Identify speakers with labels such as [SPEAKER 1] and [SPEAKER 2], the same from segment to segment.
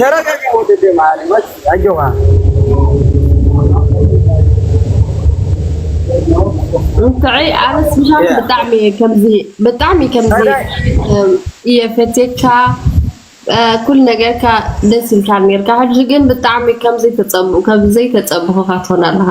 [SPEAKER 1] ተረጋጋ ወደ
[SPEAKER 2] ደም አለ ወስ አጆካ
[SPEAKER 3] እንተዐይ ኣነ ስብሓት ብጣዕሚ እየ ከምዚ ብጣዕሚ ከምዚ እየ ፈቴካ ኩል ነገርካ ደስ ኢልካ ነርካ ሕጂ ግን ብጣዕሚ ከምዘይተፀብኡ ከምዘይተፀብኹካ ትኾን ኣለኻ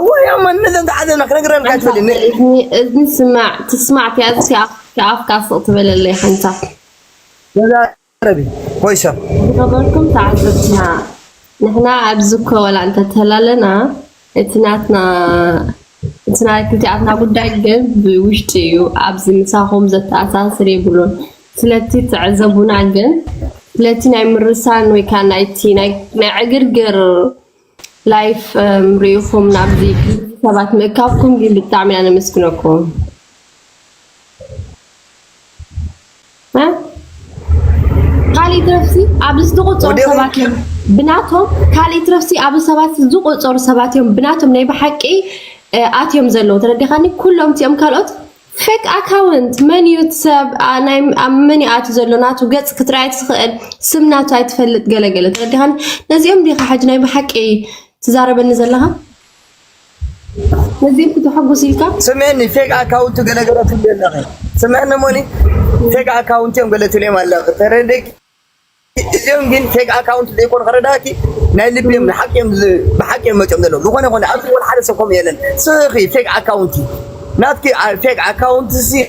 [SPEAKER 3] እወ ያው
[SPEAKER 2] ማንነተን ተሓዘና ክነግረልካ ትበሊ ን- እዝኒ እዝኒ
[SPEAKER 3] ስማዕ ትስማዕ ትያዝስ የኣፍካ ኣፍካ ስቕ ትበለለይ ሓንታ ተዛረቢ
[SPEAKER 2] ወይ ሰብ ዝኸበርኩም
[SPEAKER 3] ተዓዘብትና ንሕና ኣብዚ እኮ ወላ እንተተላለና እቲ ናትና እቲ ናይ ክልቲኣትና ጉዳይ ግን ብውሽጢ እዩ ኣብዚ ምሳኹም ዘተኣሳስር የብሉን ስለቲ ተዕዘቡና ግን ስለቲ ናይ ምርሳን ወይ ከዓ ናይቲ ናይ ናይ ዕግርግር ላይፍ ሪኢኹም ናብዚ ሰባት ምእካብኩም ግን ብጣዕሚ ኢና ነመስግነኩም ካልእ ትረፍሲ ኣብዚ ዝተቆፀሩ ሰባት እዮም ብናቶም ካልእ ትረፍሲ ኣብዚ ሰባት ዝቆፀሩ ሰባት እዮም ብናቶም ናይ ብሓቂ ኣትዮም ዘለዉ ተረዲኻኒ ኩሎም እቲኦም ካልኦት ፌክ ኣካውንት መን እዩ እቲ ሰብ ኣብ መን እዩ ኣትዩ ዘሎ ናቱ ገፅ ክትርኢ ኣይትኽእል ስም ናቱ ኣይትፈልጥ ገለገለ ተረዲኻኒ ነዚኦም ዲኻ ሕጂ ናይ ብሓቂ ትዛረበኒ ዘለኻ ነዚኦም ክተሐጉስ ኢልካ ስምዕኒ ፌክ ኣካውንቱ
[SPEAKER 2] ገለገለ ትብሊ ኣለኺ ስምዕኒ እሞኒ ፌክ ኣካውንት እዮም ገለ ትብሊ ኣለኺ ተረዲእኪ እዚኦም ግን ፌክ ኣካውንት ዘይኮኑ ክረዳእኪ ናይ ልቢ እዮም ንሓቂ እዮም ብሓቂ እዮም መጽኦም ዘለዉ ዝኾነ ይኹን ኣብዚ ወላ ሓደ ሰብ ከምኡ የለን ስኺ ፌክ ኣካውንት እዩ ናትኪ ፌክ ኣካውንት ሲ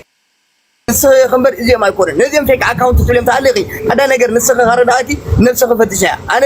[SPEAKER 2] ንስኺ ኢኺ እምበር እዚኦም ኣይኮኑን ነዚኦም ፌክ ኣካውንት ትብልዮም ተሃሊኺ ሓደ ነገር ንስኺ ከረዳእኪ ነብስኺ ፈትሸያ ኣነ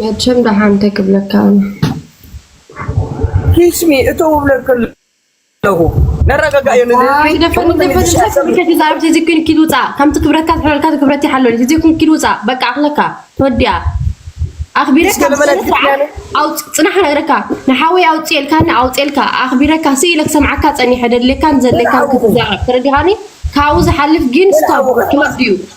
[SPEAKER 3] መቸም ደሓን እንታይ ክብለካ ኣነ
[SPEAKER 2] ኪስሚ እተው ብለኪ ኣለኹ ነረጋጋእዮ
[SPEAKER 3] ንህዝቢዛዕባ ተዘይ ኮይኑ ኪድ ውፃእ ከምቲ ክብረትካ ዝሕለልካ ክብረት ይሓለሉ ተዘይ ኮይኑ ኪድ ውፃእ በቃ ኣኽለካ ተወዲኣ ኣኽቢረካ ብስነስርዓት ፅናሕ ክነግረካ ንሓወይ ኣውፅኤልካኒ ኣውፅኤልካ ኣኽቢረካ ስኢለ ክሰምዓካ ፀኒሐ ደድልየካን ዘድልየካን ክትዛረብ ተረዲኻኒ ካብኡ ዝሓልፍ ግን ስቶፕ ክወስድ እዩ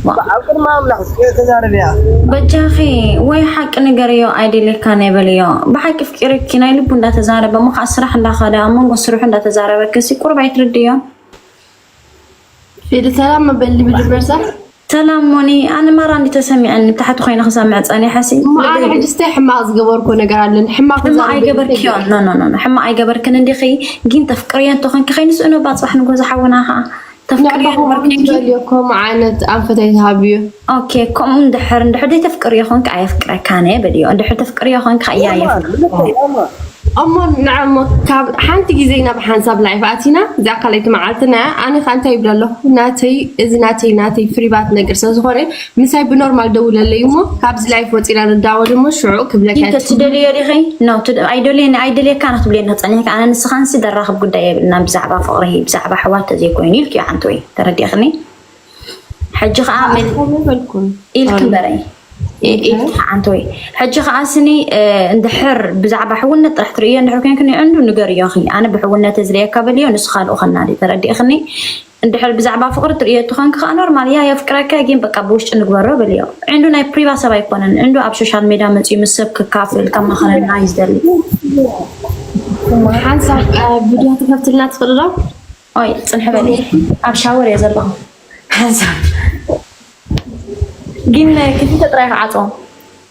[SPEAKER 2] እባ ኣብ ቅድሚ ኣምላኽ ስቅሬ ተዛረብያ።
[SPEAKER 4] በጃኺ ወይ ሓቂ ንገርዮ ኣይደልየካን እየ በልዮ ብሓቂ ኣፍቂሩኪ ናይ ልቡ እንዳተዛረበ እሞ ከኣ ስራሕ እንዳኸደ ኣብ መንጎ ስርሑ እንዳተዛረበኪሲ ቁሩብ ኣይትርድእዮን።
[SPEAKER 3] ፊሊ ሰላም ም በሊ ብድመርሳ። ሰላም ሞኒ
[SPEAKER 4] ኣነ ማራ እንዲዩ ተሰሚዕኒ ታሕቲ ኮይነ ክሰምዕ ጸኒሐሲ እሞ ኣነ ልበይ ሕጅስ ታይ
[SPEAKER 3] ሕማቅ ዝገበርኩ ነገር ኣለኒ ሕማቅ ሕማቅ ክዛረብ ደሊየ
[SPEAKER 4] ታይ ኣይገበርክዮን ገይረ ኖኖኖ ሕማቅ ኣይገበርክን እንዲኺ ጊን ተፍቅርዮ እንተኾንኪ ከይንስእኖ እባ ጽባሕ ንግሆ ዝሓውና ከኣ ተፍቅርዮ ኔኪ
[SPEAKER 3] ትደልዮ ከምኡ ዓይነት ኣንፈተይ ትሃብዮ። ኦኬ ከምኡ
[SPEAKER 4] እንድሕር እንድሕር ዘይተፍቅርዮ ኮንኪ ኣየፍቅረካን እየ በልዮ እንድሕር ተፍቅርዮ ኮንኪ ከኣ እያ የፍቅረካ።
[SPEAKER 3] እሞ ንዐ እሞ ካብ ሓንቲ ግዜ ናብ ሓንሳብ ላይፍ ኣቲና እዚኣ ካልኣይቲ መዓልትና እያ ኣነ ከኣ እንታይ ይብል ኣለኩ ናተይ እዚ ናተይ ናተይ ፍሪባት ነገር ስለዝኮነ ምሳይ ብኖርማል ደውለለይ እሞ ካብዚ ላይፍ ወፂና ንዳወል እሞ ሽዑ ክብለካ ዲከ ትደልዮ ዲኺ ኖ
[SPEAKER 4] ኣይደልየኒ ኣይደልየካን ክትብለየኒ ክፀኒሕኪ ኣነ ንስኻንሲ ደራኽብ ጉዳይ የብልናን ብዛዕባ ፍቕሪ ብዛዕባ ኣሕዋት ተዘይኮይኑ ኢልኪዮ ሓንቲ ወይ ተረዲእኽኒ ሕጂ ከዓ መን ኣይበልኩን ኢልኪ እምበረይ ኢልኪ ሓንቲ ወይ ሕጂ ከዓ ስኒ እ፣ እንድሕር ብዛዕባ ሕውነት ጥራሕ ትርእዮ እንድሕር ኮይንክኒ ዕንዱ ንገርዮ እኺ ኣነ ብሕውነት እየ ዝርእየካ በልዮ ንሱ ካልኡ ከናዲ ተረዲእኽኒ እንድሕር ብዛዕባ ፍቅሪ ትርእዮ ተኮንኪ ከኣ ኖርማል እያ የፍቅረካ እየ ጊን በቃ ብውሽጢ ንግበሮ በልዮ ዕንዱ ናይ ፕሪባ ሰብ ኣይኮነን ዕንዱ ኣብ ሾሻል ሜዳ መጽዩ ምስ ሰብ ከካፍል ከማክረና እዩ ዝደሊ ሓንሳብ
[SPEAKER 3] ቪድዮ ትከፍትልና ትክእሊ ዶ ኦይ ጽንሒ
[SPEAKER 4] በሊ ኣብ ሻወር እየ ዘለኩ ሓንሳብ ጊን ክልተ ጥራይ ክዓጽዎ።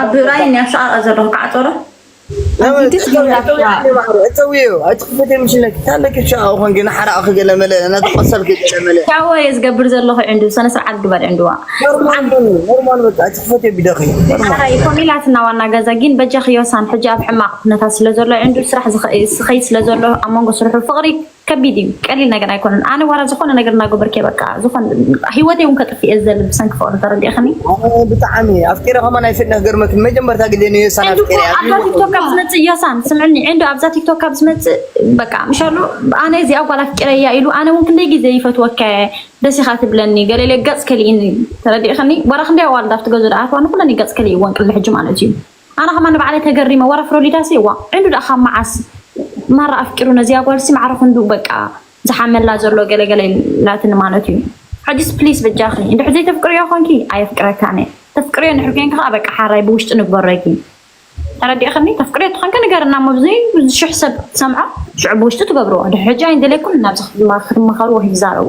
[SPEAKER 2] ኣብ ራይን እያ ሰቓቐ ዘለኹ ከዓ ጦረ ሻወ እየ ዝገብር
[SPEAKER 4] ዘለኹ ዕንዱ ሰነ ስርዓት ግበር
[SPEAKER 2] ዕንዱዋ ኮሚላትና
[SPEAKER 4] ዋና ገዛ ግን በጃኺ ዮሳን ሕጂ ኣብ ሕማቕ ኩነታት ስለ ዘሎ ዕንዱ ስራሕ ዝኸይድ ስለ ዘሎ ኣብ መንጎ ስርሑ ፍቕሪ ከቢድ እዩ ቀሊል ነገር ኣይኮነን ኣነ ዋላ ዝኮነ ነገር እናገበርክ እየ በቃ ዝኮነ ሂወተይ እውን ከጥፍእ እየ ዝደሊ ብሰንኪ ፍቅሪ ተረዲእክኒ ኣነ ብጣዕሚ
[SPEAKER 2] ኣፍቂረ ከማን ኣይፍለኽ ገርመትኒ መጀመርታ ግዜ ንዮ ሳን ዕንዱ እኮ ኣፍቂረ ኣብዛ ቲክቶክ ካብ
[SPEAKER 4] ዝመፅእ ዮሳን ስምዕኒ ዕንዱ ኣብዛ ቲክቶክ ካብ ዝመፅእ በቃ ምሻሉ ኣነ እዚኣ ጓል ኣፍቂረ እያ ኢሉ ኣነ እውን ክንደይ ግዜ ይፈትወካ እየ ደስ ኢካ ትብለኒ ገለ ኢለ ገፅ ከሊእኒ ተረዲእክኒ ዋላ ክንደይ ኣዋልድ ኣብቲ ገዝኡ ድኣ ኣትዋ ንኩለን እዩ ገፅ ከሊእወን ቅድሚ ሕጂ ማለት እዩ ኣነ ከማን ንባዕለይ ተገሪመ ዋላ ፍሮሊዳሲ እዋ ዕንዱ ድኣ ካብ መዓስ ማራ ኣፍቂሩ ነዚኣ ጓልሲ ማዕረ ክንድኡ በቃ ዝሓመላ ዘሎ ገለ ገለ ኢላትኒ ማለት እዩ ሕጅስ ፕሊስ በጃኺ እንድሕር ዘይተፍቅርዮ ኮንኪ ኣየፍቅረካን እየ ተፍቅርዮ እንድሕር ኮንኪ ከኣ በቃ ሓራይ ብውሽጢ ንግበሮ ኢኪ ተረዲእክኒ ተፍቅርዮ ተኾንኪ ንገርና እሞ ብዘይ ሽሕ ሰብ ክሰምዖ ሽዑ ብውሽጢ ትገብርዎ ድሕር ሕጂ ኣይንደልየኩምን ናብዚ ክትማኸርዎ ክትዛረቡ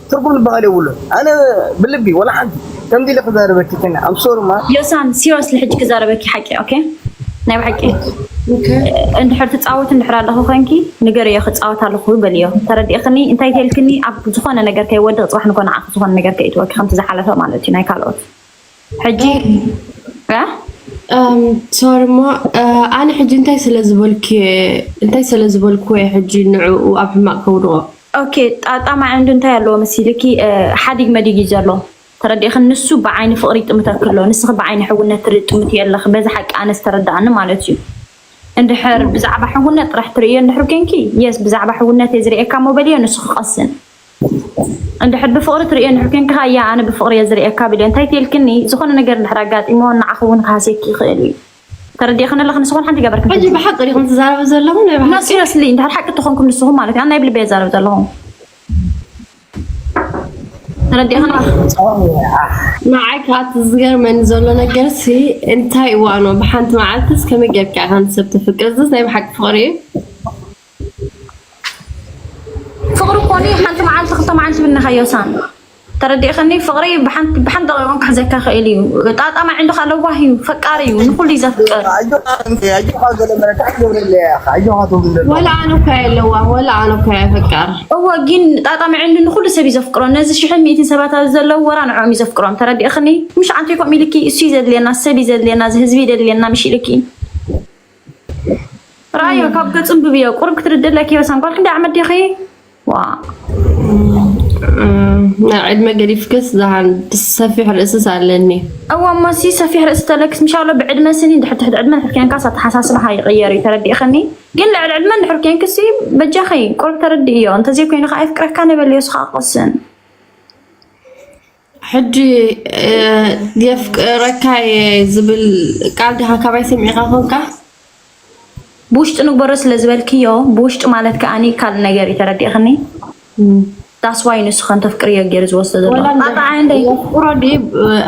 [SPEAKER 2] ትርጉም ዝበሃል የብሉን ኣነ ብልቢ ወላ ሓንቲ ከምዚ ኢለ ክዛረበኪ ከነ ኣም ሶሪ ማር ዮሳን ሲሪየስሊ ሕጂ
[SPEAKER 4] ክዛረበኪ ሓቂ ኦኬ ናይ ብሓቂ እንድሕር ትፃወት እንድሕር ኣለኹ ኮንኪ ንገርዮ ክፃወት ኣለኹ በልዮ ተረዲእኽኒ እንታይ ተልክኒ ኣብ ዝኾነ ነገር ከይወድቕ ፅባሕ ንኮ ንዓኺ ዝኾነ ነገር ከይትወኪ ከምቲ ዝሓለፈ ማለት እዩ ናይ ካልኦት ሕጂ
[SPEAKER 3] ሶሪ እሞ ኣነ ሕጂ እንታይ ስለ ዝበልክ እንታይ ስለ ዝበልኩ እየ ሕጂ ንዕኡ ኣብ ሕማቅ ከውድቆ ኦኬ
[SPEAKER 4] ጣጣ ማዕንዱ እንታይ ኣለዎ መሲልኪ ሓዲግ መዲግ እዩ ዘሎ ተረዲእኽን ንሱ ብዓይኒ ፍቅሪ ይጥምተክ ኣሎ ንስኺ ብዓይኒ ሕውነት ትርኢ ጥምት የለኽ በዚ ሓቂ ኣነ ዝተረዳኣኒ ማለት እዩ እንድሕር ብዛዕባ ሕውነት ጥራሕ ትርእዮ እንድሕር ኮንኪ የስ ብዛዕባ ሕውነት እየ ዝርእየካ እሞ በልዮ ንሱ ክቀስን እንድሕር ብፍቅሪ ትርእዮ እንድሕር ኮንካ ኣያ ኣነ ብፍቅሪ እየ ዝርእየካ በልዮ እንታይ ተልክኒ ዝኮነ ነገር እንድሕር ኣጋጢምዎ ንዓኪ ውን ክሃስየኪ ይክእል እዩ ተረዲእክኒ ኣለኪ ንስኩን ሓንቲ ገበርክን ሕጂ ብሓቂ ዲኩም ትዛረቡ
[SPEAKER 3] ዘለኩም ናይ ብሓቂ ሲረስሊ እንድሕር ሓቂ
[SPEAKER 4] ተኮንኩም ንስኩም ማለት እዩ ኣነ ናይ ብልበይ እየ ዝዛረብ ዘለኩ ተረዲእክኒ
[SPEAKER 3] ንዓይ ከኣ እቲ ዝገርመኒ ዘሎ ነገርሲ እንታይ እዋኖ ብሓንቲ መዓልትስ ከመይ ጌርካ ኢካ ንሰብ ተፍቅር እዚስ ናይ ብሓቂ ፍቅሪ እዩ
[SPEAKER 4] ፍቅሪ እኮ ን ሓንቲ መዓልቲ ክልተ መዓልቲ ብነካዮ ሳሚ ተረዲእክኒ ፍቅሪ ብሓንቲ ደቂቅ ክሕዘካ ይክእል እዩ ጣጣ ማዕንዱካ ለዋህ እዩ ፈቃር እዩ ንኩሉ እዩ ዘፍቅር
[SPEAKER 3] ወላ ኣነ እኮ እየ ለዋህ ወላ ኣነ እኮ እየ ፈቃር እወ ጊን ጣጣ
[SPEAKER 4] ማዕንዱ ንኩሉ ሰብ እዩ ዘፍቅሮ ነዚ ሽሕን ሚእትን ሰባት ኣብዚ ዘለዉ ወላ ንዕኦም እዩ ዘፍቅሮም ተረዲእክኒ ምሽ ኣንቲኮም ኢልኪ እሱ እዩ ዘድልየና ሰብ እዩ ዘድልየና እዚ ህዝቢ እዩ ዘድልየና ምሽ ኢልኪ ራያ ካብ ገጹ እንብብዮ ቁሩብ ክትርድእለኪ እየ ወሰን ጓል ክንደይ ዓመት ዲኺ ዋእ
[SPEAKER 3] ናይ ዕድመ ገዲፍክስ ዝሃን ሰፊሕ ርእስስ ኣለኒ እወ እሞሲ
[SPEAKER 4] ሰፊሕ ርእሲ ተለክስ ምሻሎ ብዕድመ ስኒ ድሕር ትሕቲ ዕድመ ድሕር ኮንካስ ኣተሓሳስባኻ ይቕየር እዩ ተረዲእኽኒ ግን ልዕሊ ዕድመ ድሕር ኮንክሲ በጃኺ ቁሩብ ተረድእዮ እንተዘይኮይኑ ከዓ የፍቅረካ ነበልዮ ስኻ ቅስን
[SPEAKER 3] ሕጂ የፍቅረካ እየ ዝብል ቃል ድኻ ካባይ ሰሚዕኻ ኮንካ?
[SPEAKER 4] ብውሽጢ ንግበሮ ስለ ዝበልክዮ ብውሽጢ ማለት ከኣኒ ካልእ ነገር እዩ ተረዲእኽኒ ዳስ ዋይ ንሱ ከም ተፍቅርዮ ጌሩ ዝወስዶ ዘሎ ወላ ጣጣ ኣይ
[SPEAKER 3] የፍቅሮ ድዩ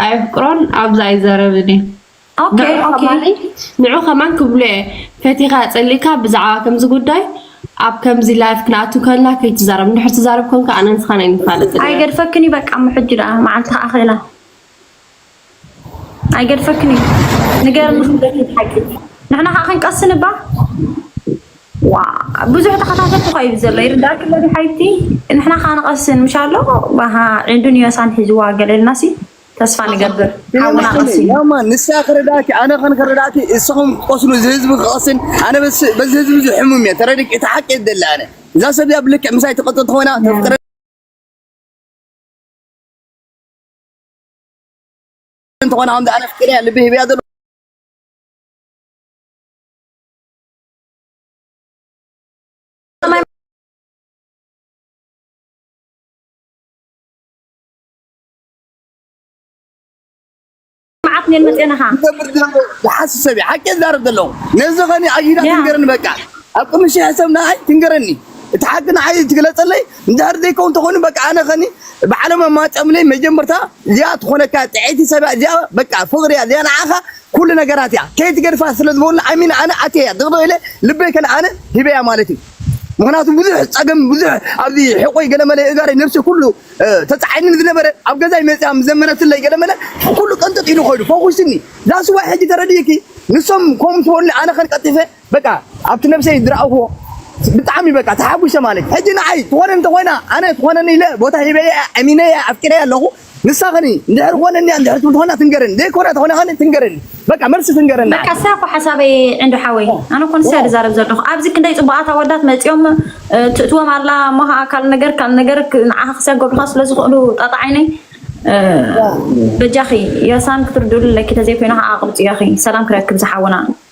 [SPEAKER 3] ኣየፍቅሮን ኣብዚ ኣይዛረብን እየ።
[SPEAKER 4] ንዑ
[SPEAKER 3] ከማን ክብሎ እየ ፈቲካ ፀሊእካ ብዛዕባ ከምዚ ጉዳይ ኣብ ከምዚ ላይፍ ክንኣቱ ከለና ከይትዛረብ እንድሕር ትዛረብ ኮንካ ኣነን ንስካን ኣይንፋለጥን ኢና ኣይገድፈክን እዩ በቃ
[SPEAKER 4] እሞ ሕጂ ደኣ መዓልቲ ከኣ ክእላ ኣይገድፈክን እዩ ንገርኒ ንሕና ከኣ ክንቀስን እባ ብዙሕ ተኸታተልቲ እኳ እዩ ዘሎ ይርዳእኪ ኣሎ ድዩ ሓቢብቲ ንሕና ከኣ ንቐስን ምሻ ኣሎ ባሃ ዒንዱን ዮሳን ሒዝዋ ገለ ኢልና ሲ ተስፋ ንገብር ሓውና ቀሲኑ ያማ ንሳ ክረዳእኪ
[SPEAKER 2] ኣነ ከን ክረዳእኪ እሰኹም ክትቆስሉ እዚ ህዝቢ ክቀስን ኣነ በዚ በዚ ህዝቢ እዚ ሕሙም እየ ተረድኪ እቲ ሓቂ እየ ዝደሊ ኣነ እዛ ሰብ እዚኣ ብልክዕ ምሳይ ትቅጥል ተኾይና ተፍቅረ እንተኾነ ከምዚ ኣነ ፍቅር እያ ልቢ ሂበያ ዘሎ
[SPEAKER 4] መዓት ኔል መጤናኻ ዝገብር ዝነበረ ዝሓስብ
[SPEAKER 2] ሰብ እዩ ሓቂ ዝዛረብ ዘለኹ ነዚ ኸኒ ኣጊዳ ያ ትንገረኒ በቃ ኣብ ቅድሚ ሽሕ ሰብ ንዓይ ትንገረኒ እቲ ሓቂ ንዓይ ትግለፀለይ እንድሕር ዘይከውን ተኾይኑ በቃ ኣነ ኸኒ ብዓለም ኣማፀምለይ መጀመርታ እዚኣ ትኾነካ ጥዕይቲ ሰብ እያ እዚኣ በቃ ፍቕሪ እያ እዚኣ ንዓኻ ኩሉ ነገራት እያ ከይትገድፋ ስለ ዝበሉኒ ኣሚነ ኣነ ኣትየያ ድቕድቕ ኢለ ልበይ ከነ ኣነ ሂበያ ማለት እዩ ምኽንያቱ ብዙሕ ፀገም ብዙሕ ኣብዚ ሕቆይ ገለመለ እጋረይ ነብሲ ኩሉ ተፃዒኑኒ ዝነበረ ኣብ ገዛይ መፅያ ምስ ዘመረትለይ ገለመለ ኩሉ ቀንጥጥ ኢሉ ኮይኑ ፈኹስኒ ዛስ ዋይ ሕጂ ተረዲእኪ ንሶም ከምኡ ምስ በሉኒ ኣነ ከን ቀልጢፈ በቃ ኣብቲ ነብሰይ ዝረኣኹዎ ብጣዕሚ በቃ ተሓጒሰ ማለት እዩ ሕጂ ንዓይ ትኾነ እንተኾይና ኣነ ትኾነኒ ኢለ ቦታ ሂበያ ኣሚነያ ኣፍቂረያ ኣለኹ ንሳ ከኒ እንድሕር ኮነኒያ እንድሕር ትብል ተኮይና ትንገረኒ ዘይኮና ተኮይና ከኒ ትንገረኒ በቃ መልሲ ትንገረኒ በቃ ንዓይ ንሳ እኮ ሓሳበይ
[SPEAKER 4] ዕንዱ ሓወይ ኣነ እኮ ንሳ ዋው ዝዛረብ ዘለኹ ኣብዚ ክንደይ ፅቡቃት ኣወዳት መፂኦም እ፣ ትእትዎም ኣላ እሞ ከዓ ካል ነገር ካል ነገር ክ- ንዓኻ ክሰገዱኻ ስለ ዝኽእሉ ጣጣ ዓይነይ እ፣ ዋው በጃኺ የሳን ክትርድኡሉ ኣለኪ ተዘይኮይኑ ከዓ ኣቅብፅዮ እኺ ሰላም ክረክብ ዝሓውና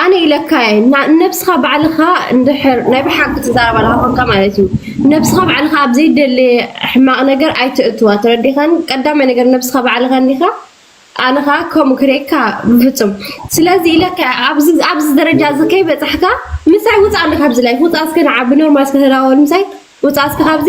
[SPEAKER 3] ኣነ ኢለካ እየ ንነብስካ ባዕልካ እንድሕር ናይ ብሓቂ ትዛረብ ኣለካ ኮንካ ማለት እዩ ነብስካ ባዕልካ ኣብ ዘይደሌ ሕማቅ ነገር ኣይተእትዋ ተረዲካኒ ቀዳማይ ነገር ነብስካ ባዕልካ እንዲካ ኣነ ከኣ ከምኡ ክርእየካ ብፍጹም ስለዚ ኢለካ እየ ኣብዚ ኣብዚ ደረጃ እዚ ከይበጻሕካ ምሳይ ውጻ እንዲ ካብዚ ላይ ውጻ እስከ ንዓ ብኖርማል እስከ ተዳወል ምሳይ ውጻ እስከ ካብዚ